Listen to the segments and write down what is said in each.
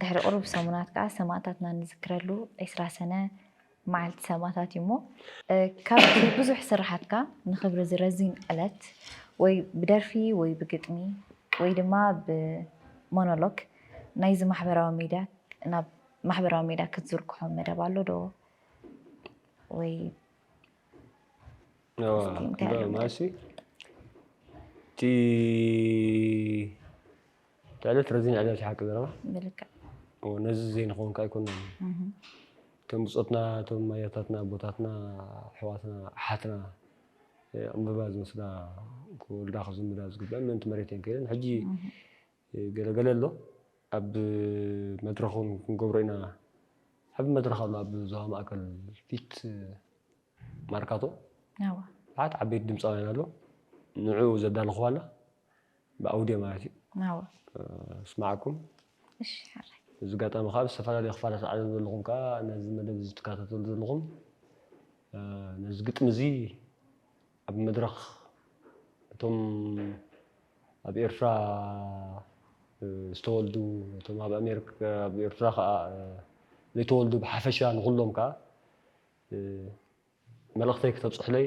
ድሕሪ ቅሩብ ሰሙናት ከኣ ሰማእታትና ንዝክረሉ ዕስራ ሰነ መዓልቲ ሰማእታት እዩሞ ካብቲ ብዙሕ ስርሓትካ ንኽብሪ እዚ ረዚን ዕለት ወይ ብደርፊ ወይ ብግጥሚ ወይ ድማ ብሞኖሎግ ናይዚ ማሕበራዊ ሚድያ ናብ ማሕበራዊ ሚድያ ክትዝርግሖ መደብ ኣሎ ዶ ወይ ማሲ እቲ ትዕልት ረዚን ዕልል ሓቂ ዘረባ ብልክዕ ነዚ ዘይንኸውን ከ ኣይኮናን እቶም ብፆትና እቶም ኣያታትና ኣቦታትና ኣሕዋትና ኣሓትና ዕምበባ ዝወስዳ ክወልዳ ክዝምዳ ዝግበአን ምእንቲ መሬት እየን ከይደን ሕጂ ገለገለ ኣሎ ኣብ መድረኽ እውን ክንገብሮ ኢና ዓብ መድረኽ ኣሎ ኣብ ዞባ ማእከል ፊት ማርካቶ ብዙሓት ዓበይቲ ድምፃውያን ኣሎ ንዑ ዘዳለኹዋ ኣላ ብኣውድዮ ማለት እዩ ናወ እስማዓኩም። እሺ ሓራይ። በዚ ኣጋጣሚ ከኣ ኣብ ዝተፈላለዩ ክፋላት ዓለም ዘለኹም ከኣ ነዚ መደብ እዚ ትከታተሉ ዘለኹም ነዚ ግጥሚ እዚ ኣብ መድረኽ እቶም ኣብ ኤርትራ ዝተወልዱ እቶም ኣብ ኣሜሪካ ኣብ ኤርትራ ከኣ ዘይተወልዱ ብሓፈሻ ንኹሎም ከኣ መልእኽተይ ክተብጽሑለይ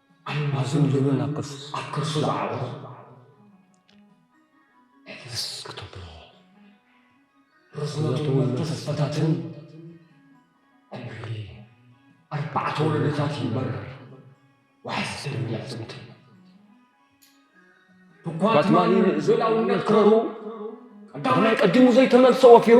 ኣልማዝን ልብን ኣብ ከርሱ ዝዓወት ሕፍስ ክትብሎ ርዝነቱ መንተሰፈታትን ዕምሪ ኣርባዕተ ወለዶታት ይንበር ዋሕስ ደም ያፅምት ብኳትማሊ ንእዘላውነት ክረሩ ቀዳማይ ቀዲሙ ዘይተመልሰ ወፊሩ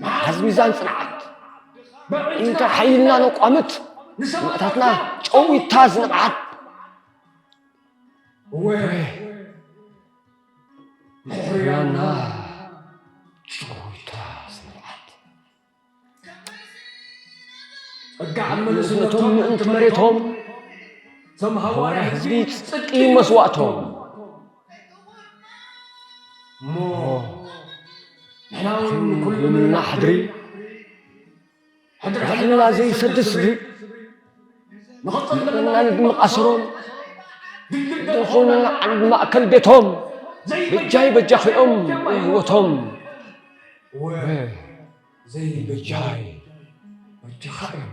መሓዝ ሚዛን ፅንዓት እንተ ሓይልና ነቋምት ንሰማእታትና ጨዊታ ዝንብዓት ሕርያና ጨዊታ ዝንብዓት እቶም ምእንቲ መሬቶም ተምሃዋርያ ህዝቢ ፅድቂ መስዋእቶም እሞ ንሕናውን ንኩሉ ምንና ሕድሪ ሕድሕድና ዘይሰድ ስድሪ ንኽጽልምና ንድምቃስሮም ዝኾኑና ዓንድ ማእከል ቤቶም ብጃይ በጃኺኦም ህይወቶም ወ ዘይበጃይ በጃኻ እዮም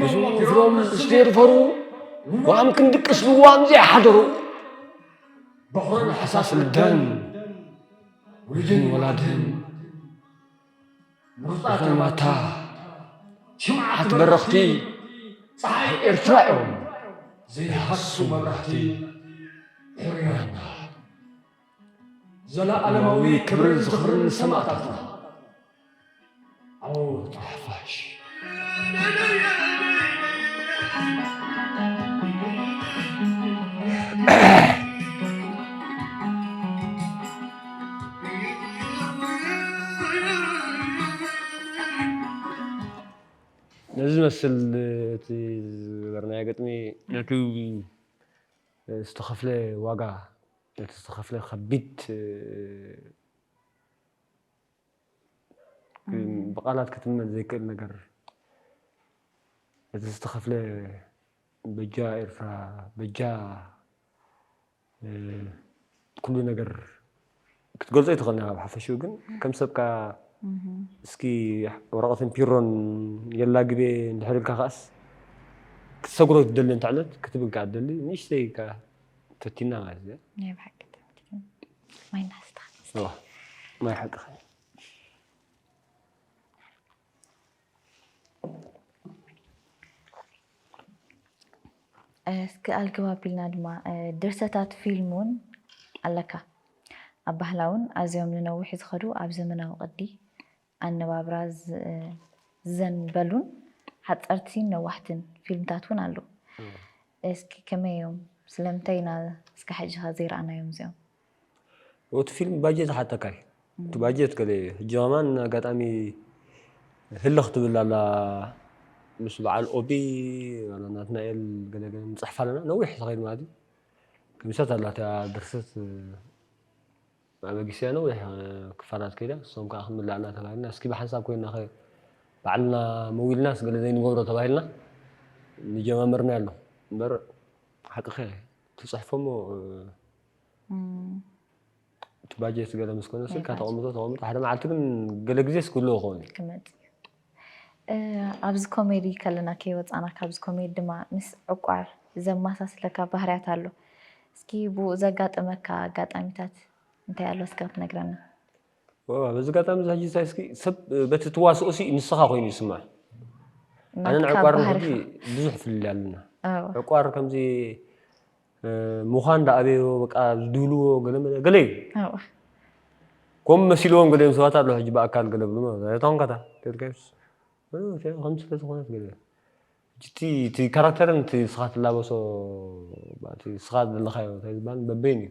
ብዙ ፍሮም ስቴርፈሩ ዋም ክንድቅስ ብዋም ዘይሓደሩ ብኹርን ሕሳስ ልደን ውጅን ወላድን ምርጣት ማታ ሽምዓት በረኽቲ ፀሓይ ኤርትራ እዮም ዘይሃሱ መብራህቲ ሕርያና ዘለኣለማዊ ክብርን ዝኽርን ንሰማእታትና! ዓወት ንሓፋሽ! ነዚ ዝመስል እቲ ዝገበርናዮ ግጥሚ ነቲ ዝተኸፍለ ዋጋ ነቲ ዝተኸፍለ ከቢድ ብቃላት ክትመን ዘይክእል ነገር ነቲ ዝተኸፍለ በጃ ኤርትራ በጃ ኩሉ ነገር ክትገልጾ ይትኽእል ናብ ሓፈሽኡ ግን ከም ሰብካ እስኪ ወረቐትን ፒሮን የላ ግቤ እንድሕር ኢልካ ከኣስ ክትሰግሮ ትደሊ እንተ ዕለት ክትብል ከኣ ትደሊ ንእሽተይ ተቲና ማለት እዩ ናይ ብሓቂ ተቲና ማይ ናስተኻ እዋ ማይ ሓቅኻ እስኪ ኣልግብ ኣቢልና ድማ ድርሰታት ፊልም እውን ኣለካ ኣብ ባህላውን ኣዝዮም ንነዊሕ ዝኸዱ ኣብ ዘመናዊ ቅዲ ኣነባብራ ዝዘንበሉን ሓጸርቲን ነዋሕትን ፊልምታት እውን ኣለዉ። እስኪ ከመይ እዮም? ስለምንታይ ኢና እስከ ሕጂኸ ዘይረኣናዮም እዚኦም? እቲ ፊልም ባጀት ዝሓተካ እዩ። እቲ ባጀት ገለ እዩ። ሕጂ ከማን ኣጋጣሚ ህልኽ ትብል ኣላ ምስ በዓል ኦቢ ዋላ ናትናኤል ገለ ገለ ንጽሕፍ ኣለና ነዊሕ ዝኸይድ ማለት እዩ። ገሚሳት ኣላ እታ ድርሰት መበጊሲያ ነዊሕ ክፋላት ከይዳ ንሶም ከኣ ክምላእና ተባሂልና እስኪ ብሓንሳብ ኮይንናኸ ባዕልና መዊልናስ ገለ ዘይንገብሮ ተባሂልና ንጀማምርናዮ ኣሎ እምበር ሓቅኺ ኢኺ ትጽሕፎሞ እቲ ባጀት ገለ ምስ ኮነ ስልካ ተቐምጦ ተቐምጦ ሓደ መዓልቲ ግን ገለ ግዜስ ክህልዎ ክኸውን እዩ። ኣብዚ ኮሜዲ ከለና ከይወጻና ካብዚ ኮሜዲ ድማ ምስ ዕቋር ዘማሳስለካ ባህርያት ኣሎ እስኪ ብኡ ዘጋጠመካ ኣጋጣሚታት እንታይ ኣሎ እስካ ትነግረና። በዚ ኣጋጣሚ እዚ ሕጂ እንታይ እስኪ ሰብ በቲ ትዋስኦሲ ንስኻ ኮይኑ ይስማዕ ኣነን ናትካ ዕቋርን ባህሪ ሕጂ ብዙሕ ፍልልይ ኣለና ኣዎ ዕቋር ከምዚ ምዃን ዳኣ ኣበዮ በቃ ዝድብልዎ ገለ መለ ገለ እዩ ኣብኣ ከምኡ መሲልዎም ገሊኦም ሰባት ኣለዉ ሕጂ ብኣካል ገለ ብሉ ማለት እዩ ታንካታ ደርጋዮስ ከም ስለ ዝኾነት ገለ እቲ እቲ ካራክተርን እቲ ስኻ ትላበሶ እቲ ስኻ ዘለኻዮ እንታይ ዝበሃል በበይን እዩ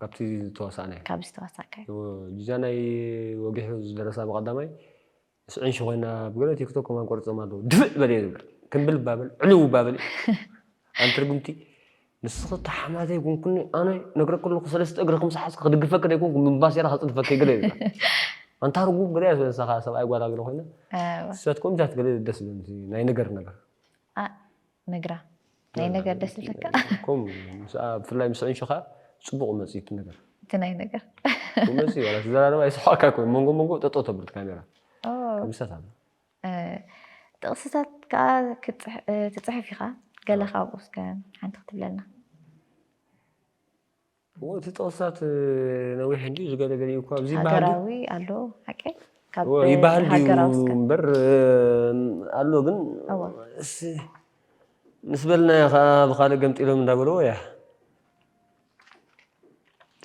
ካብቲ ዝተዋሳእናዮ ካብ ዝተዋሳእካዮ። ጂጃ ናይ ወጊሑ ዝደረሳ ብቀዳማይ ምስ ዕንሹ ኮይና ኣብ ገለ ቲክቶክ ከማን ቆሪጾማ ኣለዉ ድፍእ በልየ ዝብል ክምብል ባብል ዕልው ባብል ኣንቲ ርግምቲ ንስኺ እታ ሓማተይ ኩንኩኒ ኣነ ነግረኪ ኣለኹ ሰለስተ እግሪ ከም ዝሓዝኪ ክድግፈኪ ደይኮንኩ ምባሴራ ከጽድፈኪ ገለ ዝብል ኣንታ ርጉም ገለ እያ ስለሳ ከኣ ሰብኣይ ጓላ ገለ ኮይና ኣሰያትኩም ኢንታ ትገለ ደስ ዝብል ናይ ነገር ነገር ነግራ ናይ ነገር ደስ ዝለካ ከምኡ ምስኣ ብፍላይ ምስ ዕንሽኻ ጽቡቕ መጽዩ እቲ ነገር እቲ ናይ ነገር ከምኡ መጽዩ ዋላ ትዘራረባ ይስሓቕካ ኮይኑ መንጎ መንጎ ጠጦ ተብል ካሜራ ከምሰት ኣሎ ጥቕስታት ከኣ ክትጽሕፍ ኢኻ ገለ ካብኡ እስከ ሓንቲ ክትብለልና እዎ እቲ ጥቕስታት ነዊሕ እንድዩ ዝገለገለ እኳ ኣብዚ ሃገራዊ ኣሎ ሓቂ ካብ ይበሃል ድዩ እምበር ኣሎ ግን ምስ በልናዮ ከዓ ብካልእ ገምጢሎም እንዳበለዎ እያ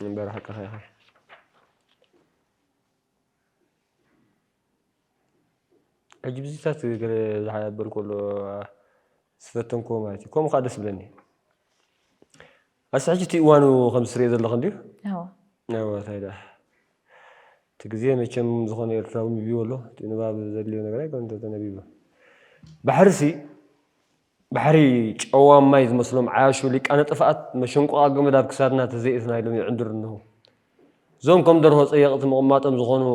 እምበር ሓቅኻ ኢኻ ሕጂ ብዚታት ገለ ዝሓበር ከሎ ዝፈተንክዎ ማለት እዩ ከምኡ ከዓ ደስ ብለኒ ኣስቲ ሕጂ እቲ እዋኑ ከምዚ ትሪኦ ዘለኺ እንድዩ ኣዎ ኣዎ ታይ ደኣ እቲ ግዜ መቸም ዝኾነ ኤርትራዊ ንቢቡ ኣሎ እቲ ንባብ ዘድልዮ ነገር ኣይኮነን ተተነቢቡ ባሕሪሲ ባሕሪ ጨዋም ማይ ዝመስሎም ዓያሹ ሊቃነ ጥፍኣት መሸንቆቓ ገመድ ኣብ ክሳድና ተዘይእትና ኢሎም ይዕንድሩ እንሆ እዞም ከም ደርሆ ጸየቕቲ ምቕማጦም ዝኾኑ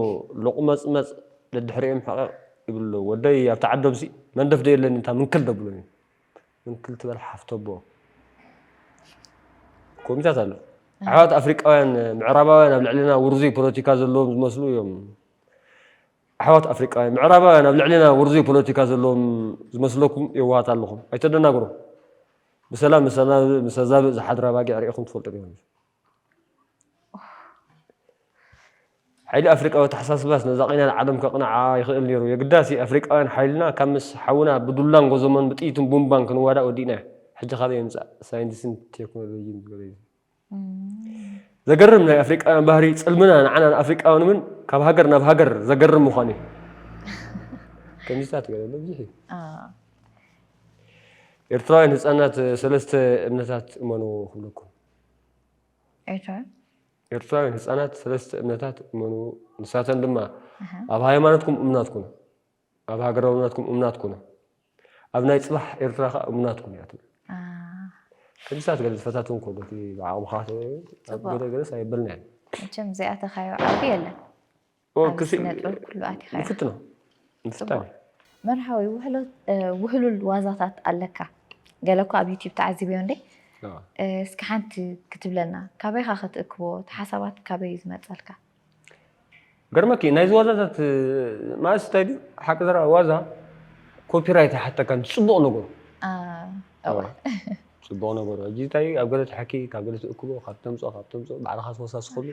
ሎቑመጽመጽ ደድሕሪኦም ሕቕቕ ይብሉ ኣለዉ ወደይ ኣብቲ ዓዶምሲ መንደፍ ዶ የለን እንታ ምንክል ደብሎም እዮም ምንክል ትበል ሓፍቶቦ ኮሚታት ኣሎ ኣሕዋት ኣፍሪቃውያን ምዕራባውያን ኣብ ልዕልና ውርዙይ ፖለቲካ ዘለዎም ዝመስሉ እዮም ኣሕዋት ኣፍሪቃውያን ምዕራባውያን ኣብ ልዕልና ውርዙይ ፖለቲካ ዘለዎም ዝመስለኩም የዋሃት ኣለኹም ኣይተደናግሩ ብሰላም ምሰዛብእ ዝሓድራ ባጊዕ ርኢኹም ትፈልጡ ዲኹም ሓይሊ ኣፍሪቃዊ ኣተሓሳስባስ ነዛ ቂናን ዓለም ከቕንዓ ይኽእል ነይሩ። የግዳሲ ኣፍሪቃውያን ሓይልና ካብ ምስ ሓውና ብዱላን ጎዞሞን ብጥይትን ቡምባን ክንዋዳእ ወዲእናዮ። ሕጂ ካበይ ይምጻእ ሳይንቲስን ቴክኖሎጂን ዝበሎ እዩ። ዘገርም ናይ ኣፍሪቃውያን ባህሪ ጽልምና ንዓና ንኣፍሪቃውያን እውን ካብ ሃገር ናብ ሃገር ዘገርም ምዃኑ እዩ። ከምዚታት ገለ ኣሎ ብዙሕ እዩ። ኤርትራውያን ህጻናት ሰለስተ እምነታት እመኑ ክብለኩም ኤርትራውያን? ኤርትራውያን ህጻናት ሰለስተ እምነታት እመኑ፣ ንሳተን ድማ፣ ኣብ ሃይማኖትኩም እሙናት ኩኑ፣ ኣብ ሃገራውነትኩም እሙናት ኩኑ፣ ኣብ ናይ ጽባሕ ኤርትራ ከኣ እሙናት ኩኑ እያ ትብል። ከምዚ ሰዓት ገለ ዝፈታትውን ከሎ እቲ ብዓቕምኻ ገለ ገለስ ኣይበልናዮን። መቸም ዘይኣተኻዮ ዓውዲ የለን። ኣብ ስነጥበብ ኩሉ ኣቲኻ ኢኻ። ንፍትኖ ንፍጣን እዩ። መርሃዊ ውህሉል ዋዛታት ኣለካ ገለ እኳ ኣብ ዩቲብ ተዓዚበዮ እንዴ እስኪ ሓንቲ ክትብለና ካበይካ ክትእክቦ እቲ ሓሳባት ካበይ እዩ ዝመፀልካ? ገርመኪ ናይዚ ዋዛታት ማእስ እንታይ ድዩ ሓቂ ዘራ ዋዛ ኮፒራይት ኣይሓተካን ፅቡቕ ነገሩ ፅቡቕ ነገሩ ሕጂ እንታይ ኣብ ገለ ትሓኪ ካብ ገለ ትእክቦ ካብ ተምፅኦ ካብ ተምፅኦ ባዕልኻ ትወሳስኸሉ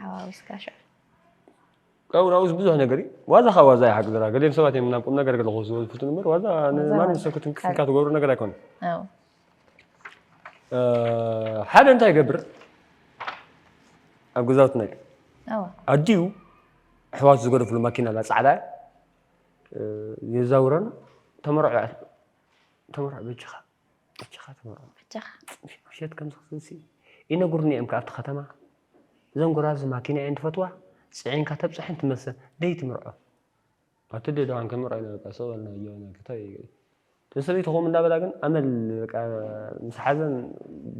ካብኡ ናብኡስ ብዙሕ ነገር እዩ ዋዛ ካብ ዋዛ ይሓቂ ዘራ ገሊኦም ሰባት እዮም ናብ ቁም ነገር ገለ ክወስድዎ ዝፍትኑ እምበር ዋዛ ንማንም ሰብ ክትንክፍ ኢልካ ትገብሮ ነገር ኣይኮነን ሓደ እንታይ ይገብር ኣብ ገዛውትና እዩ ኣዲኡ ኣሕዋቱ ዝገደፍሉ ማኪና ኣላ ፃዕዳ የዛውረን ተመርዖ ተመርዖ በጅኻ ኣጀኻ ተመርዖ ፅንሒ ምሸት ከምዝኽትንሲ ይነግሩኒ እዮም ኣብቲ ከተማ እዘን ጎራዙ ማኪና እየን ትፈትዋ ፅዒንካ ተብፅሐን ትመልሰን ደይ ትምርዖ ኣቲ ዶ ደሓን ከምርዖ ኢና በቃ ስቕ በልና እዮ ክታይ እተን ሰበይቲ ከምኡ እንዳበላ ግን ኣመል በቃ ምስ ሓዘን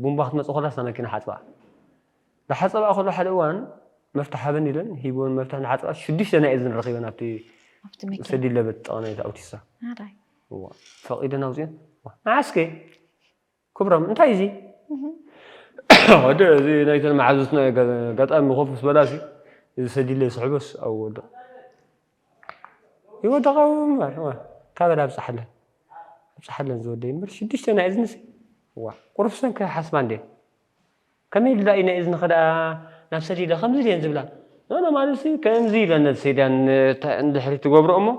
ቡምባ ክትመፅእ ኮላስ እታ መኪና ሓፅባ ንሓጸብኣ ከሎ ሓደ እዋን መፍትሕ ሃበኒ ኢለን ሂብወን መፍትሕ ንሓጸብኣ ሽዱሽተ ናይ እዝኒ ረኺበን ኣብቲ ኣብቲ መኪና ሰዲድ ለበት ጥቓ ናይቲ ኣውቲስታ ኣራይ እዋ ፈቒደን ኣውጺኦን እዋ ንዓስከ ክብሮም እንታይ እዚ ወደ እዚ ናይተን መሓዙትና እዩ ገ- ኣጋጣሚ ኮፍ ምስ በላሲ እዚ ሰዲድ ለይ ስሕበስ ኣብኡ ወደቕ ይወደቕ ኣብኡ እምበር እዋ ካበላ ኣብጽሓለን ኣብጽሓለን ዝወደይ እምበር ሽዱሽተ ናይ እዝንሲ እዋ ቁሩብ ሰንከ ሓስባ እንዴ ከመይ ኢሉ ዳኣ ኢዩ ናይ እዝንኺ ዳኣ ናብ ሰዲለ ከምዚ ድየን ዝብላ ኖኖ ማለትሲ ከምዚ ኢለን ነቲ ሴዳን ንድሕሪት ትገብሮ እሞ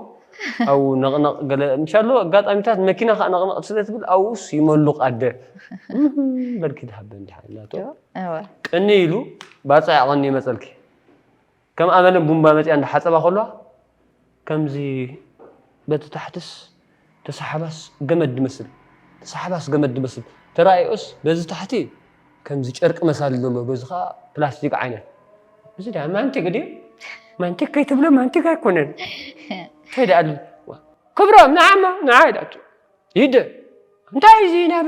ኣብኡ ነቕነቕ ገለ ምሻሎ ኣጋጣሚታት መኪና ከኣ ነቕነቕ ስለ ትብል ኣብኡስ ይመሉቕ ኣደ በልኪ ድሃበን ድሓን ናቶ ቅንይ ኢሉ ባጽዕ ኣቐንዩ መጸልኪ። ከም ኣመለ ቡምባ መጺኣ እንዳ ሓጸባ ከሎ ከምዚ በቲ ታሕትስ ተሳሓባስ ገመድ ድመስል ተሳሓባስ ገመድ ድመስል ተራእዮስ በዚ ታሕቲ ከምዚ ጨርቂ መሳሊ ዘሎ በዚ ከኣ ፕላስቲክ ዓይነት እዚ ደኣ ማንቲግ ድዩ ማንቲግ ከይትብሎ ማንቲግ ኣይኮነን እንታይ ደኣ ኣሎ ክብሮም ንዓማ ንዓ ኢላቶ ይደ እንታይ እዚ ናብ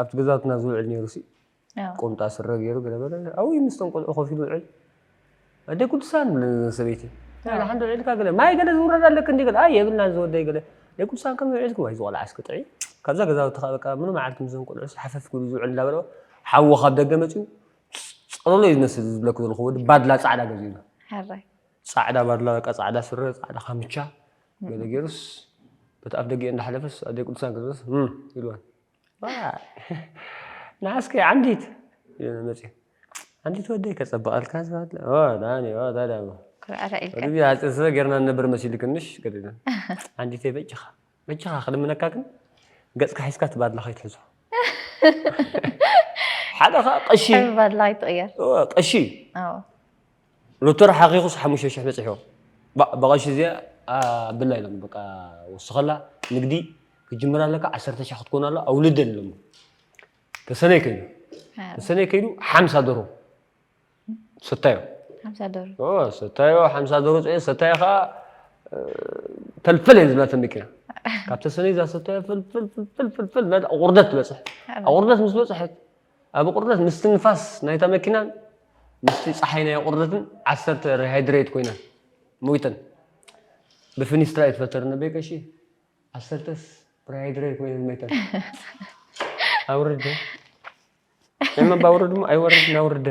ኣብቲ ገዛውትና ዝውዕል ነይሩሲ ቁምጣ ስረ ገይሩ ገለ በለ ኣብይ ምስቶም ቆልዑ ኮፍ ኢሉ ውዕል ኣደ ቅዱሳን ብለን ሰበይቲ ሓንዶ ውዒልካ ገለ ማይ ገለ ዝውረድ ኣለክ እንዲ ገለ ኣይ የብልናን ዝወደይ ገለ ናይ ቅዱሳን ከም ውዒልኩም ኣይ ዝቆልዓ እስኪ ጥዒ ካብዛ ገዛውቲ ከዓ በቃ ምኑ መዓልቲ ምስዞም ቆልዑ ሓፈፍ ክብሉ ዝውዕል እንዳበለ ሓዎ ካብ ደገ መፅኡ ፀሎሎ እዩ ዝመስል ዝብለክ ዘለኹ ወዲ ባድላ ፃዕዳ ገዚኡና ፃዕዳ ባድላ በቃ ፃዕዳ ስረ ፃዕዳ ካምቻ ገለ ጌሩስ በቲ ኣፍደጊኤን እንዳሓለፈስ ኣደይ ቅዱሳን ክትመጽእ እም ኢልወን ዋይ ንዓስ ከይ ዓንዲት ኢለን መጽየን ዓንዲት ወደይ ከጸብቐልካ ዝባለ ኦ ዳኒ ኦ ታዲያ እሞ ኩርዕርዕ ኢልካ ወዲዚ ሓጺር ስረ ጌርና ንነብር መሲልክንሽ ገለ ኢለን ዓንዲተይ በጃኻ በጃኻ ክልምነካ ግን ገጽካ ሒዝካ እቲ ባድላ ከይትሕዞ ሓደ ከኣ ቀሺ ሕብሪ ባድላ ኣይትቕየር እወ ቀሺ እዩ ኣዎ ሩቶ ሓኺኹስ ሓሙሽተ ሽሕ በጺሑ ባእ ብቐሺ እዚኣ ኣብላ ኢሎም በቃ ወስኸላ ንግዲ ክጅምር ኣለካ ዓሰርተ ሽሕ ክትኮን ኣሎ ኣውልደን ኢሎሞ ተሰነይ ከይዱ ተሰነይ ከይዱ ሓምሳ ደሮ ሰታዮ ሰታዮ ሓምሳ ደሮ ፅኦ ሰታዮ ከዓ ፈልፈል እየ ዝብላ ተመኪና ካብ ተሰነይ እዛ ሰታዮ ፈልፈልፈልፈልፈል ናብ ኣቑርደት ትበፅሕ ኣቑርደት ምስ በፅሐት ኣብ ቁርደት ምስቲ ንፋስ ናይታ መኪናን ምስቲ ጸሓይ ናይ ቁርደትን ዓሰርተ ሪሃይድረይት ኮይነን ሞይተን። ብፍኒስትራ ይትፈተር ነበይ ቀሺ ዓሰርተስ ሪሃይድረይት ኮይነን ሞይተን። ኣውርደ እመ ባውርድ እሞ ኣይወርድን ኣውርደ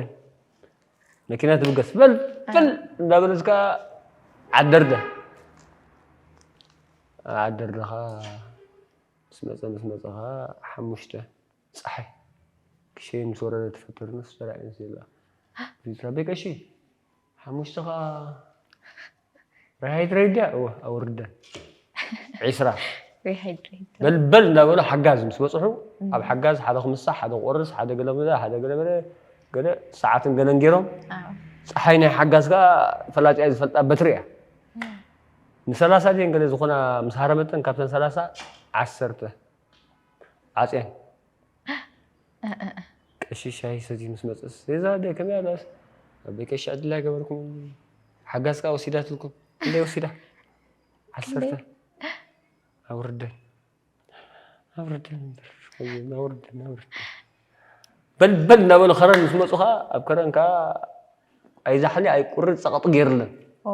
መኪና ትብገስ ፈልፍል እንዳበለስ ከዓ ዓደርደ ዓደርደኻ ምስ መፀ ምስ መፀኻ ሓሙሽተ ጸሓይ ክሸይን ምስ ወረደ ትፈጥር ነፍሲ ጸላኢ ነፍሲ የልባ ሪትራ ኣቤ ቀሺ ሓሙሽተ ከኣ ሪሃይድሬድያ እወ ኣወርዳ ዒስራ በልበል እንዳበሉ ሓጋዝ ምስ በፅሑ ኣብ ሓጋዝ ሓደ ክምሳሕ ሓደ ክቆርስ ሓደ ገለ ገለ ሓደ ገለ ገለ ገለ ሰዓትን ገለን ገይሮም ፀሓይ ናይ ሓጋዝ ከዓ ፈላጢኣ ዝፈልጣ በትሪ እያ ንሰላሳ ድን ገለ ዝኾና ምስ ሃረመተን ካብተን ሰላሳ ዓሰርተ ዓጽያን እእእእ። ቀሺ ሻሂ ሰትዩ ምስ መጸስ እዛ ኣደ ከመይ ኣላስ ኣበይ ቀሺ ዕድል ኣይገበርኩምን ሓጋዝ ከኣ ወሲዳትልኩም ክንደይ ወሲዳ ዓሰርተ ኣውርደን ኣውርደን እምበር ወይኒ ኣውርደን ኣውርደን በል በል እናበሉ ከረን ምስ መጹ ከኣ ኣብ ከረን ከኣ ኣይዛሕሊ ኣይቁሪ ጸቕጢ ገይርለን ኦ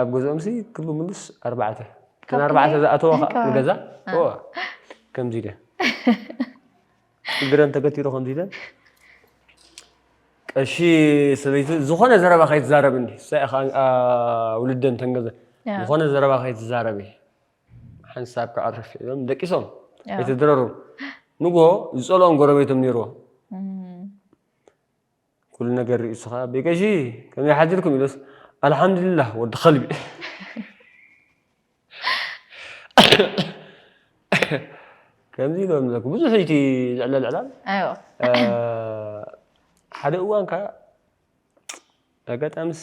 ኣብ ገዝኦምሲ ክብ ምሉስ ኣርባዕተ እተን ኣርባዕተ ዝኣተዋ ከዓ ንገዛ እዋ ከምዚ ኢለን እግረን ተገቲሩ ከምዚ ኢለን ቀሺ ሰበይቲ ዝኾነ ዘረባ ከይትዛረብ እንዲ ሳኢ ከዓ ውልደን ተንገዘ ዝኾነ ዘረባ ከይትዛረብ ሓንሳብ ከዓ ርፍ ኢሎም ደቂሶም ኣይተድረሩ ንጎ ዝፀልኦም ጎረቤቶም ነይርዎ ኩሉ ነገር ሪኡ ስኻ ኣበይ ቀሺ ከመይ ሓድርኩም ኢሎስ ኣልሓምዱሊላህ ወዲ ከልቢ ከምዚ ኢሎም ዘለኩ ብዙሕ እቲ ዝዕለል ዕላል ኣይዋ ሓደ እዋን ከ ኣጋጣሚስ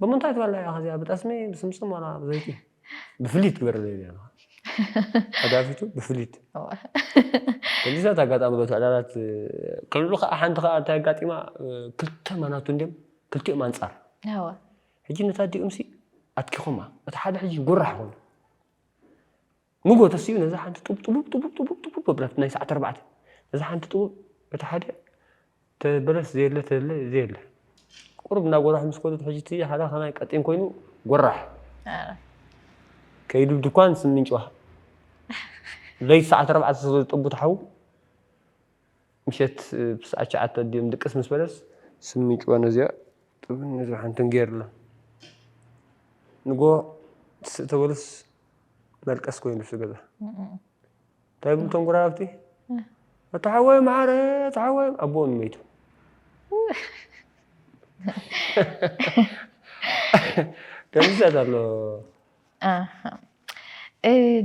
ብምንታይ ትበልዕ ኢኻ እዚኣ ብጠስሚ ብስምስም ዋላ ብዘይቲ ብፍሊት ግበርለይ ኢለ ሓጋፊቱ ብፍሊት ከምዚታት ኣጋጣሚ በት ዕላላት ክልሉ ከዓ ሓንቲ ከዓ እንታይ ኣጋጢማ ክልተ ማናቱ እንዲም ክልቲኦም ኣንፃር ሕጂ ነታ ዲኡምሲ ኣትኪኹማ እቲ ሓደ ሕጂ ጉራሕ ኮይኑ ንጎ ተሲኡ ነዛ ሓንቲ ጡብ ጡቡብ ጡቡብ ጡቡብ ጡቡብ ኣብላት ናይ ሰዓት ኣርባዕተ ነዛ ሓንቲ ጡቡብ በቲ ሓደ ተበለስ ዘየለ ተለ ዘየለ ቁሩብ እንዳ ጎራሑ ምስ ከዱ ሕጂ እቲ ሓደ ከማይ ቀጢን ኮይኑ ጎራሕ ከይዱ ድኳን ስሚንጭዋ ለይቲ ሰዓት ኣርባዕተ ስለ ዝጠቡ ተሓው ምሸት ብሰዓት ትሽዓተ ኣዲኦም ድቅስ ምስ በለስ ስሚጭዋ ነዚኣ ጥብ ነዚኣ ሓንትን ገይርሎም ንግሆ ትስእ ተበሉስ መልቀስ ኮይኑ እቲ ገዛ እንታይ ይብሉ እቶም ጎረባብቲ ኣታ ሓወይ መዓረ ኣታ ሓወይ ኣቦኡ ንመይቱ ከምዚ ኣሎ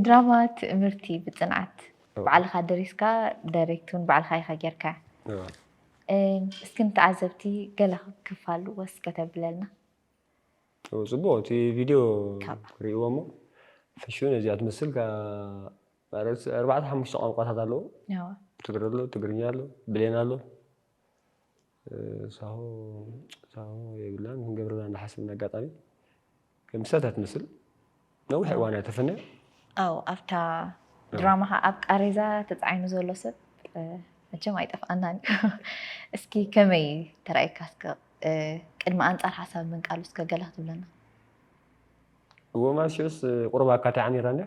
ድራማ ትእምርቲ ብፅንዓት ባዕልኻ ደሪስካ ዳይሬክት እውን ባዕልኻ ኢኻ ጌርካያ እስኪ ንተዓዘብቲ ገለ ክፋል ወስ ከተብለልና ፅቡቅ እቲ ቪድዮ ክርእይዎ እሞ ፍሹን እዚኣ ትመስል ማለት ኣርባዕተ ሓሙሽተ ቋንቋታት ኣለዎ ትግረ ኣሎ ትግርኛ ኣሎ ብሌን ኣሎ ሳሆ ሳሆ የብልናን ክንገብረና እናሓሰብና ኣጋጣሚ ከምሳታ ትመስል ነዊሕ እዋን እያ ተፈነ ኣው ኣብታ ድራማ ከዓ ኣብ ቃሬዛ ተፃዒኑ ዘሎ ሰብ መቸም ኣይጠፍኣናን እዩ እስኪ ከመይ ተራእየካ እስከ ቅድሚ ኣንፃር ሓሳብ ምንቃሉ እስከ ገለ ክትብለና እዎ ማለት ሽዑስ ቁርብ ኣካታዕ ነይራና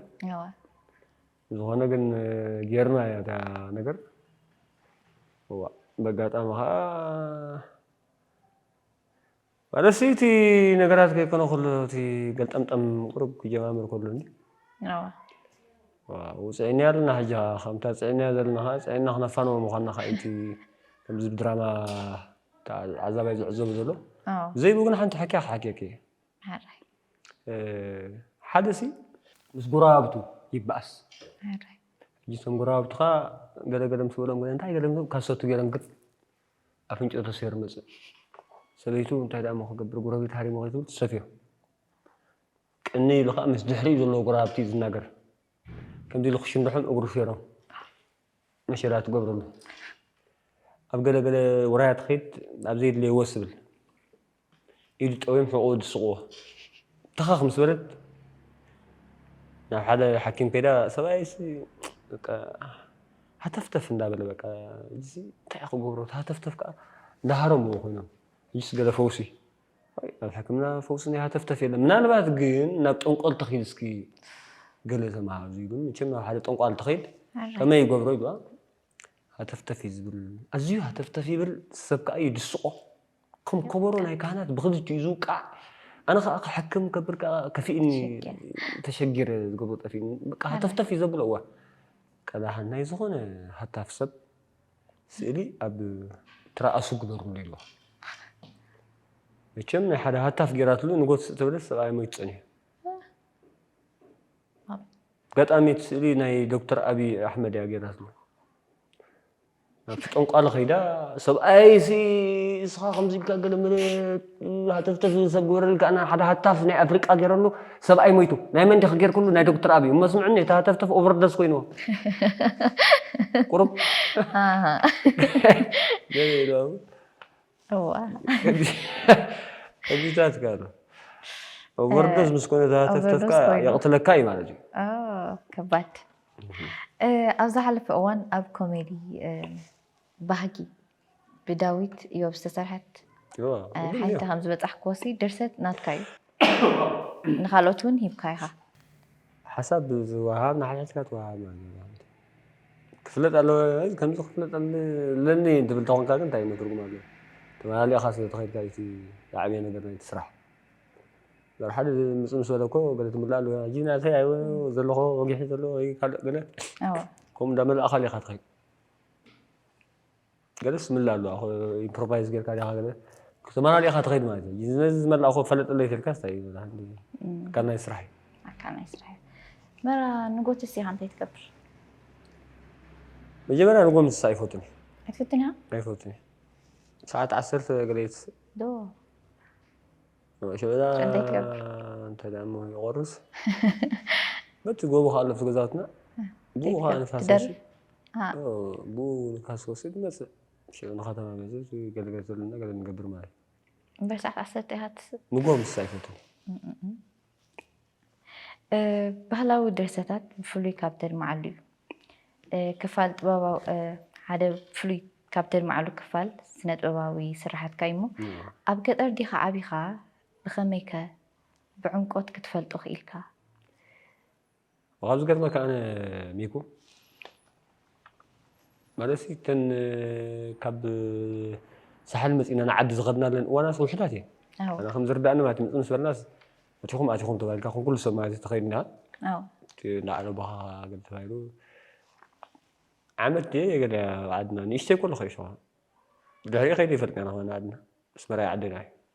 ብዝኾነ ግን ጌርናያ እታ ነገር እዋእ በጋጣሚ ከኣ ማለት ሲ እቲ ነገራት ከይኮነ ከሎ እቲ ገልጠምጠም ቁሩብ ክጀማምር ከሎኒ ውፅዒኒያ ኣለና ሕጂ ከዓ ከምታ ፅዒኒያ ዘለና ከዓ ፅዒና ክነፋንዎ ምኳና ከዓ እቲ ከምዚ ድራማ ተዓዛባይ ዝዕዘቡ ዘሎ ዘይብኡ ግን ሓንቲ ሕክያ ክሓክየኪ እየ ሓደ ሲ ምስ ጎረባብቱ ይበኣስ እቶም ጎረባብቱ ከዓ ገለገለ ምስ በሎም እንታይ ገለ ካሰቱ ገይሮም ግጥ ኣፍንጭኡ ተሰይሩ መፅእ ሰበይቱ እንታይ ደኣ ክገብር ጎረቤት ሃሪሞ ከይትብል ትሰፍዮ ቅኒ ኢሉ ከዓ ምስ ድሕሪኡ ዘለዎ ጎረባብቲ ዝናገር ከምዚ ኢሉ ክሽንድሖም እግሩ ሸይሮም ነሸራ ትገብረሉ ኣብ ገለ ገለ ውራያት ትኸይድ ኣብ ዘየድለየ ወስ ትብል ኢዱ ጠውዮም ሕቖኡ ድስቕዎ ተኸኽ ምስ በለት ናብ ሓደ ሓኪም ከይዳ ሰብኣይሲ በቃ ሃተፍተፍ እንዳበለ በቃ እዚ እንታይ ክገብሮ ሃተፍተፍ ከዓ እንዳሃረምዎ ኮይኖም እዚስ ገለ ፈውሲ ኣብ ሕክምና ፈውሲ ናይ ሃተፍተፍ የለን። ምናልባት ግን ናብ ጠንቆል ተኺድ እስኪ ገለ ተምሃር እዙይ ግን መቸም ናብ ሓደ ጠንቋል ተኺድ ከመይ ይገብሮ ይግባ ሃተፍተፍ እዩ ዝብል ኣዝዩ ሃተፍተፍ ይብል ሰብ ከዓ እዩ ድስቆ ከም ከበሮ ናይ ካህናት ብክልቲ እዩ ዝውቃዕ ኣነ ከዓ ክሕክም ከብል ከዓ ከፊእኒ ተሸጊረ ዝገብሮ ጠፊእኒ በቃ ሃተፍተፍ እዩ ዘብሎ እዋ ቀዳሓን ናይ ዝኾነ ሃታፍ ሰብ ስእሊ ኣብ ትራኣሱ ግበርሉ ኢልዋ መቸም ናይ ሓደ ሃታፍ ጌራትሉ ንጎትስ እተብለስ ሰብኣይ ሞይቱ ጸኒሑ ኣጋጣሚ እቲ ስእሊ ናይ ዶክተር ኣብይ ኣሕመድ እያ ጌራትሉ ናብቲ ጠንቋሊ ከይዳ ሰብኣይሲ እስኻ ከምዚ ኢልካ ገለ መለ ሃተፍተፍ ዝሰግበረሉ ከኣ ሓደ ሃታፍ ናይ ኣፍሪቃ ጌረሉ ሰብኣይ ሞይቱ ናይ መን ዲኺ ጌርክሉ ናይ ዶክተር ኣብይ እሞ ስምዕኒ እቲ ሃተፍተፍ ኦቨርዶስ ኮይንዎ ቁሩብ ገለ ኢሎም ከምዚታት ከኣ ኣሎ ኦቨርዶስ ምስ ኮነ እቲ ሃተፍተፍ ከኣ የቕትለካ እዩ ማለት እዩ ከባድ ኣብ ዝሓለፈ እዋን ኣብ ኮሜዲ ባህጊ ብዳዊት እዮብ ዝተሰርሐት ሓይልታ ከም ዝበጻሕክዎሲ ድርሰት ናትካ እዩ። ንኻልኦት እውን ሂብካ ኢኻ። ሓሳብ ዝወሃብ ንሓድሕድካ ትወሃብ ማለት እዩ። ክፍለጥ ኣለዎ ከምዚ ክፍለጥ ኣለኒ እንትብል ተኾንካ ግን እንታይ ትርጉም ኣለዎ ተመላሊእኻ ስለ ተኸድካ እዩ እቲ ዝዓበየ ነገር ናይቲ ስራሕ በር ሓደ ምፅ ምስ በለ እኮ ገለ ትምልእ ኣለዎ ሕጂ ናተይ ኣይ ዘለኹ ወጊሒ ዘለዎ ወይ ካልእ ገለ ከምኡ እንዳመላእኻ ኢኻ ትኸይድ ገለ ስምላ ኣለዋ እኮ ኢምፕሮቫይዝ ጌርካ ዲኻ ገለ ክትመላለእ ኢኻ ትኸይድ ማለት እዩ ነዚ ዝመላእ እኮ ፈለጠለይ ተልካ ስታይ እዩ ኣካል ናይ ስራሕ እዩ ኣካል ናይ ስራሕ እዩ መራ ንጎት ሲኻ እንታይ ትገብር መጀመርያ ንጎ ምስሳ ኣይፈቱን እዩ ኣይትፈቱን እያ ኣይፈቱን እዩ ሰዓት ዓሰርተ ገለየት ዶ እንታይ ትገብር በቲ ጎቦ ከዓ ኣለፍቲ ገዛውትና ብኡ ከዓ ንፋስ ወሲድ ብኡ ንፋስ ወሲድ መፅእ ሽዑ ንከተማ መፅእ ገለገለ ተብለና ገለ ንገብር ማለት እዩ በሰዓት ዓሰርተ ኢካ ትስብ ምጎ ምስ ኣይፈቱ ባህላዊ ድርሰታት ብፍሉይ ካብ ተድምዓሉ እዩ። ክፋል ጥበባዊ ሓደ ፍሉይ ካብ ተድምዓሉ ክፋል ስነ ጥበባዊ ስራሓትካ እዩ እሞ ኣብ ገጠር ዲኻ ዓቢኻ ብኸመይከ ብዕምቆት ክትፈልጦ ክኢልካ? ካብ ዝገርመካ ኣነ ሚኩ ማለት እተን ካብ ሳሕል መፂና ንዓዲ ዝኸድናለን እዋናት ውሕዳት እየን ኣና ከም ዝርዳእኒ ማለት ምፅ ምስ በልናስ እቲኹም ኣቲኹም ተባሂልካ ከም ኩሉ ሰብ ማለት ተኸይድና እንዳዓረባኻ ገለ ተባሂሉ ዓመት ድየ ገለ ዓድና ንእሽተይ ኮለኹ እየ ሸዋ ድሕሪኡ ከይደ ይፈልጥ ኢና ዓድና ኣስመራ ዓደና እዩ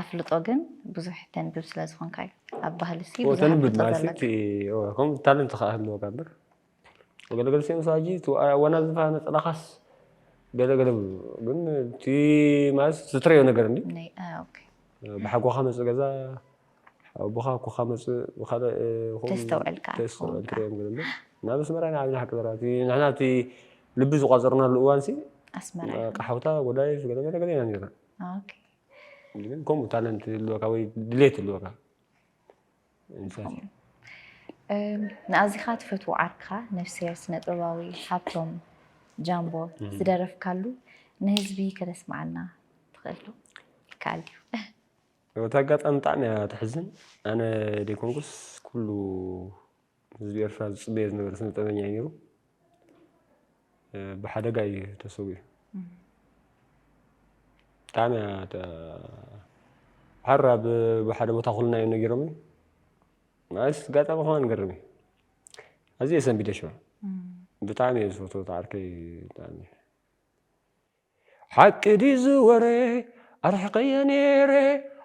ኣፍልጦ ግን ብዙሕ ተንብብ ስለ ዝኾንካ እዩ ኣብ ባህሊ ሲ ብዙሕ ተንብብ ማለት ከም ታለንት ከዓ ህልወካ እምበር ገለገለ ሲኦም ሳጂ ዋና ዝፋ ነፀላኻስ ገለገለ ግን እቲ ማለት ዝትረዮ ነገር እንዲ ብሓጎኻ መፅእ ገዛ ኣቦኻ ኮኻ መፅእ ብካልእ ተስተውዕልካ ተስተውዕልካ እዮም ግን ናብ ኣስመራ ኢና ዓብና ሓቂ ዘራ ንሕና እቲ ልቢ ዝቋፀርናሉ እዋን ሲ ኣስመራ ሓውታ ጎዳይ ገለገለ ገለ ኢና ነርና ግን ከምኡ ታለንት ኣለካ ወይ ድሌት ኣለካ ንኣዚኻ ትፈትዎ ዓርክኻ ነፍሰ ስነ ጥበባዊ ሃብቶም ጃምቦ ዝደረፍካሉ ንህዝቢ ከተስምዓልና ትኽእል ዶ ይከኣል ድዩ? እቲ ኣጋጣሚ ብጣዕሚ እያ ተሕዝን ኣነ ዘይኮንኩስ ኩሉ ህዝቢ ኤርትራ ዝጽበዮ ዝነበረ ስነጥበበኛ እዩ ነይሩ። ብሓደጋ እዩ ተሰዊኡ። ብጣዕሚ ሓራ ብሓደ ቦታ ኩልና እዮም ነጊሮም ማለት ጋጣሚ ከማ ንገርም እዩ ኣዝየ ሰንቢደ ሽዑ ብጣዕሚ እየ ዝፈትዎ ተዓርከይ ብጣዕሚ ሓቂ ድዩ እዚ ወረ ኣርሒቐየ ኔረ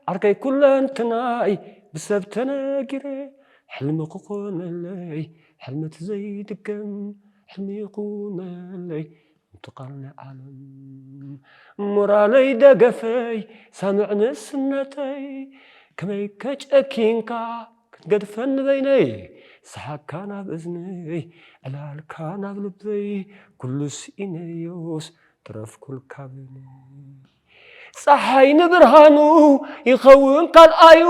ዓርከይ ኩለንትናይ ብሰብ ተነጊረ ሕልሚ ክኾነለይ ሕልሚ እቲ ዘይድገም ሕልሚ ይኹነለይ እቲ ቃል ናይ ዓለም ሞራለይ ደገፈይ ሳምዕ ንእስነተይ ከመይከ ጨኪንካ ክትገድፈኒ በይነይ ሰሓቅካ ናብ እዝነይ ዕላልካ ናብ ልበይ ኩሉ ስኢነዮስ ተረፍኩልካ በይነይ ጸሓይ ንብርሃኑ ይኸውን ካልኣዩ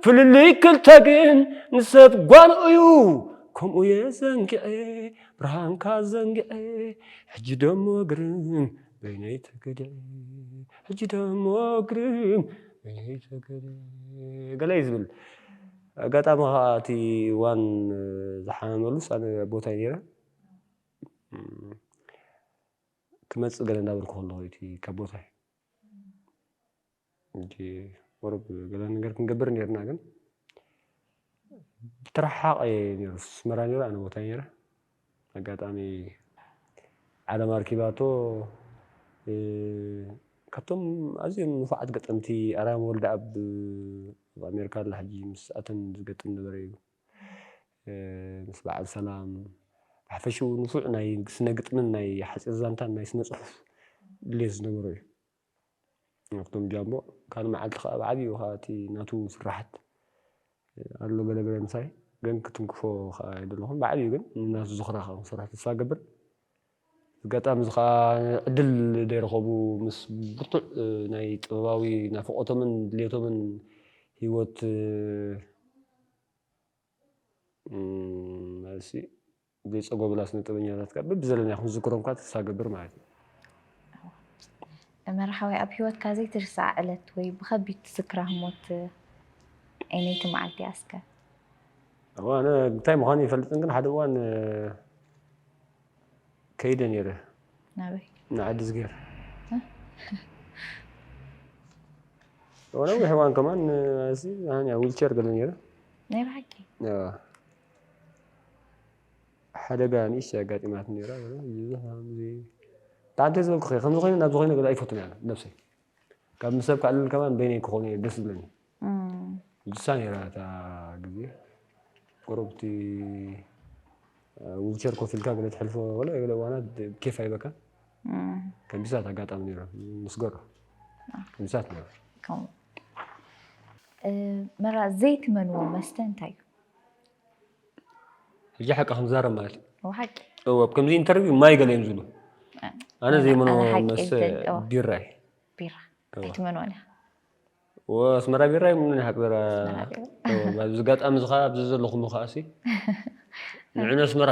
ፍልልይ ክልተ ግን ንሰብ ጓኑ እዩ ከምኡየ ዘንግዔ ብርሃንካ ዘንግዔ ሕጂ ደሞ ግርም በይነይ ተገደ ሕጂ ደሞ ግርም በይነይ ተገደ ገለ እዩ ዝብል ኣጋጣሚ ከዓ እቲ ዋን ዝሓመመሉስ ኣነ ቦታይ ነይረ ክመፅእ ገለ እንዳበልኩ ከለኹ እቲ ካብ ቦታይ ሕጂ ቁሩብ ገለ ነገር ክንገብር ኔርና ግን ትረሓቕ እየ ነይሩ ስመራ ነይረ ኣነ ቦታይ ነይረ ኣጋጣሚ ዓለም ኣርኪባቶ ካብቶም ኣዝዮም ንፉዓት ገጠምቲ ኣርያም ወልደኣብ ኣብ ኣሜሪካ ኣላ ሕጂ ምስ ኣተን ዝገጥም ነበረ እዩ ምስ በዓል ሰላም ብሓፈሽኡ ንፉዕ ናይ ስነ ግጥምን ናይ ሓፂር ዛንታን ናይ ስነ ፅሑፍ ድሌት ዝነበሮ እዩ ሃፍቶም ጃምቦ ካልእ መዓልቲ ከኣ ኣብ ዓብዩ ከኣ እቲ ናቱ ስራሓት ኣሎ ገለ ገለ ምሳይ ግን ክትንክፎ ከኣ ኣይደለኹን ብዓብዩ ግን ንናቱ ዝኽራ ከኣ ክሰርሖ ተስፋ እገብር ኣጋጣሚ እዚ ከኣ ዕድል ደይረኸቡ ምስ ብርቱዕ ናይ ጥበባዊ ናፍቖቶምን ድሌቶምን ሂወት መልሲ ዘይጸጎምና ስነጥበኛታት ከኣ በብዘለናዮ ክንዝክሮም ከኣ ተስፋ እገብር ማለት እዩ። መርሓባይ ኣብ ሂወትካ ዘይትርስዓ ዕለት ወይ ብከቢድ ትዝክራ ህሞት ኣየነይቲ መዓልቲ እያ እስከ? እዋ ኣነ እንታይ ምዃኑ ኣይፈልጥን ግን ሓደ እዋን ከይደ ነይረ ናበይ ንዓዲ ዝገር ነዊሕ እዋን ከማን እዚ ዊልቸር ገለ ነይረ ናይ ብሓቂ ሓደጋ ንእሽተይ ኣጋጢማትኒ ነይራ ብጣዕሚ ተዝበልኩ ከ ከምዚ ኮይኑ ናብዚ ኮይኑ ገዛ ኣይፈቱን እያ ነብሰይ ካብ ምስ ሰብ ክዕልል ከማን በይነይ ክኾኑ እየ ደስ ዝብለኒ ንሳ ነይራ እታ ግዜ ቁሩብቲ ዊልቸር ኮፍ ኢልካ ገለ ትሕልፎ ገለ ገለ እዋናት ኬፍ ኣይበካን ከምዚሳት ኣጋጣሚ ነይሩ ምስ ገሮ ከምዚሳት ነይሩ መራ ዘይትመንዎ መስተ እንታይ እዩ ሕጂ ሓቂ ክንዛረብ ማለት እዩ ሓቂ እወ ኣብ ከምዚ ኢንተርቪው ማይ ገለ እዮም ዝብሉ ኣነ ዘይመኖ ኣነ ሓቂ መስ እብል፣ እወ። ቢራ እዩ ቢራ ኣይትመንዋን ኢኻ እወ ኣስመራ ቢራ እዩ ምንን ሓቂ ዘራ ኣስመራ ቢራ። እወ፣ ኣብዚ ኣጋጣሚ እዚ ከዓ ኣብዚ ዘለኹሉ ከዓሲ ንዕነ ኣስመራ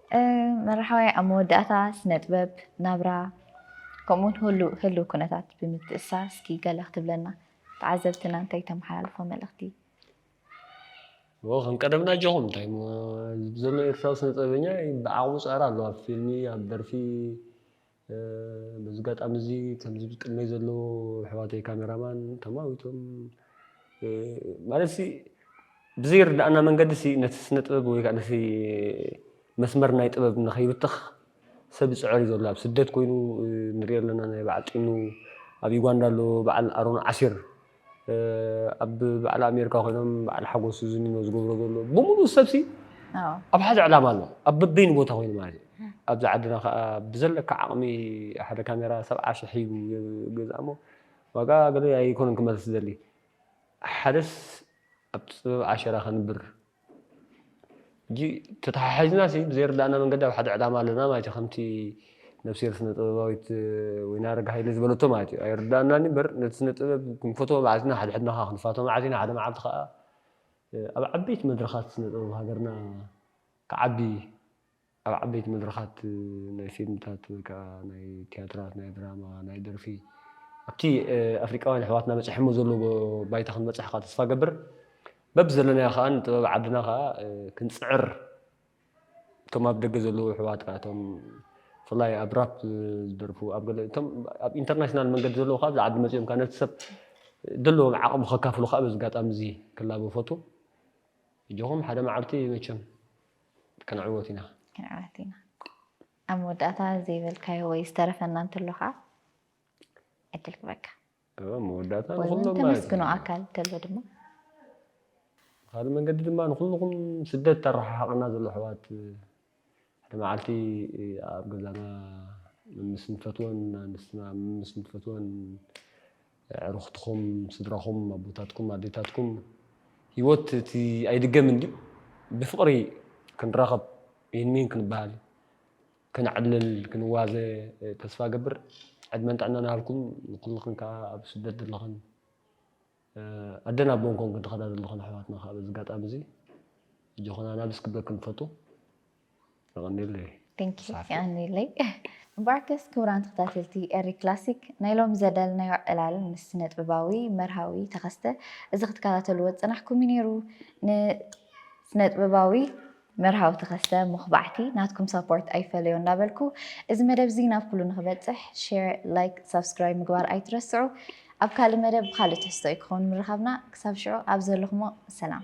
መራሕዋይ ኣብ መወዳእታ ስነጥበብ፣ ናብራ ከምኡውን ህሉው ኩነታት ብምትእስሳር እስኪ ገለ ክትብለና ተዓዘብትና እንታይ ተመሓላልፎ መልእኽቲ? እወ ከም ቀደምና ኣጆኹም እንታይሞ ዘሎ ኤርትራዊ ስነጥበበኛ ብዓቕሙ ጸዕሪ ኣሎ ኣብ ፊልሚ ኣብ ደርፊ በዚ ኣጋጣሚ እዚ ከምዚ ኣብ ቅድመይ ዘሎ ኣሕዋተይ ካሜራማን ተማዊቶም ማለት ሲ ብዘይርድኣና መንገዲ ሲ ነቲ ስነ ጥበብ ወይ ከዓ ነቲ መስመር ናይ ጥበብ ንኸይብተኽ ሰብ ይፅዕር እዩ ዘሎ ኣብ ስደት ኮይኑ ንሪኦ ኣለና ናይ በዓል ጢኑ ኣብ ዩጋንዳ ኣሎ በዓል ኣሮን ዓሲር ኣብ በዓል ኣሜርካ ኮይኖም በዓል ሓጎስ ዝዝንኖ ዝገብሮ ዘሎ ብምሉእ ሰብሲ ኣብ ሓደ ዕላማ ኣሎ ኣብ በበይኑ ቦታ ኮይኑ ማለት እዩ ኣብዚ ዓድና ከዓ ብዘለካ ዓቕሚ ሓደ ካሜራ ሰብዓ ሽሕ ሂቡ ገዛ እሞ ዋጋ ገለ ኣይኮነን ክመልስ ዝደሊ ሓደስ ኣብ ጥበብ ዓሸራ ከንብር ሕጂ ተተሓሒዝና ሲ ብዘይርዳእና መንገዲ ኣብ ሓደ ዕላማ ኣለና ማለት እዩ ከምቲ ነብሴር ስነ ጥበባዊት ወይኒ ኣረጋ ሃይለ ዝበለቶ ማለት እዩ ኣይርዳእናን እምበር ነቲ ስነ ጥበብ ክንፈትዎ መዓዝና ሓድሕድናኻ ክንፋቶ መዓዝ ኢና ሓደ መዓልቲ ከኣ ኣብ ዓበይቲ መድረኻት ስነ ጥበብ ሃገርና ክዓቢ ኣብ ዓበይቲ መድረኻት ናይ ፊልምታት ወይ ከኣ ናይ ትያትራት፣ ናይ ድራማ፣ ናይ ደርፊ ኣብቲ ኣፍሪቃውያን ኣሕዋትና በጺሖሞ ዘለዎ ባይታ ክንበጽሕ ከኣ ተስፋ እገብር። በብ ዘለናዮ ከኣ ንጥበብ ዓድና ከኣ ክንጽዕር እቶም ኣብ ደገ ዘለዉ ኣሕዋት ከኣ እቶም ብፍላይ ኣብ ራፕ ዝደርፉ ኣብ ገለ እቶም ኣብ ኢንተርናሽናል መንገዲ ዘለዉ ከኣ ኣብዚ ዓዲ መጺኦም ከኣ ነቲ ሰብ ዘለዎም ዓቕሚ ከካፍሉ ከኣ በዚ ኣጋጣሚ እዚ ክላበ እፈቱ። ኣጆኹም ሓደ መዓልቲ መቸም ክንዕወት ኢና። ክንዕወት ኢና። ኣብ መወዳእታ ዘይበልካዮ ወይ ዝተረፈና እንተሎ ከኣ ዕድል ክበካ። ኣብ መወዳእታ ወይ ንኹሎም ማለት ተመስግኖ እዩ። ኣካል እንተሎ ድማ ብኻልእ መንገዲ ድማ ንኹልኹም ስደት ተረሓሓቐና ዘሎ ኣሕዋት ሓደ መዓልቲ ኣብ ገዛና ምስ ንፈትወን ኣንስትና ምስ ንፈትወን ኣዕሩኽትኹም፣ ስድራኹም፣ ኣቦታትኩም፣ ኣዴታትኩም፣ ህይወት እቲ ኣይድገምን ድዩ? ብፍቕሪ ክንራኸብ ይንሚን ክንበሃል፣ ከነዕልል፣ ክንዋዘ ተስፋ እገብር። ዕድመን ጥዕናን ይሃብኩም ንኹልኽን ከኣ ኣብ ስደት ዘለኽን ኣደን ኣቦን ኮንክን ትኸዳ ዘለኽን ኣሕዋትና ከኣ በዚ ኣጋጣሚ እዚ ኣጆኹን ኣናብስ ክብለክን እፈቱ። የቐንየለይ Thank you ሳፊ። የቐንየለይ እምበኣርከስ ክቡራን ተኸታተልቲ ኤሪ ክላሲክ ናይ ሎሚ ዘዳለናዮ ዕላል ምስ ስነጥበባዊ መርሃዊ ተኸስተ እዚ ክትከታተልዎ ዝጸናሕኩም እዩ ነይሩ ን ስነጥበባዊ መርሃዊ ተኸስተ ሞኽባዕቲ ናትኩም ሳፖርት ኣይፈለዮ እንዳበልኩ እዚ መደብ እዚ ናብ ኩሉ ንኽበጽሕ ሼር ላይክ ሳብስክራይብ ምግባር ኣይትረስዑ ኣብ ካልእ መደብ ብኻልእ ትሕዝቶ እዩ ክኸውን ምርኻብና ክሳብ ሽዑ ኣብ ዘለኹሞ ሰላም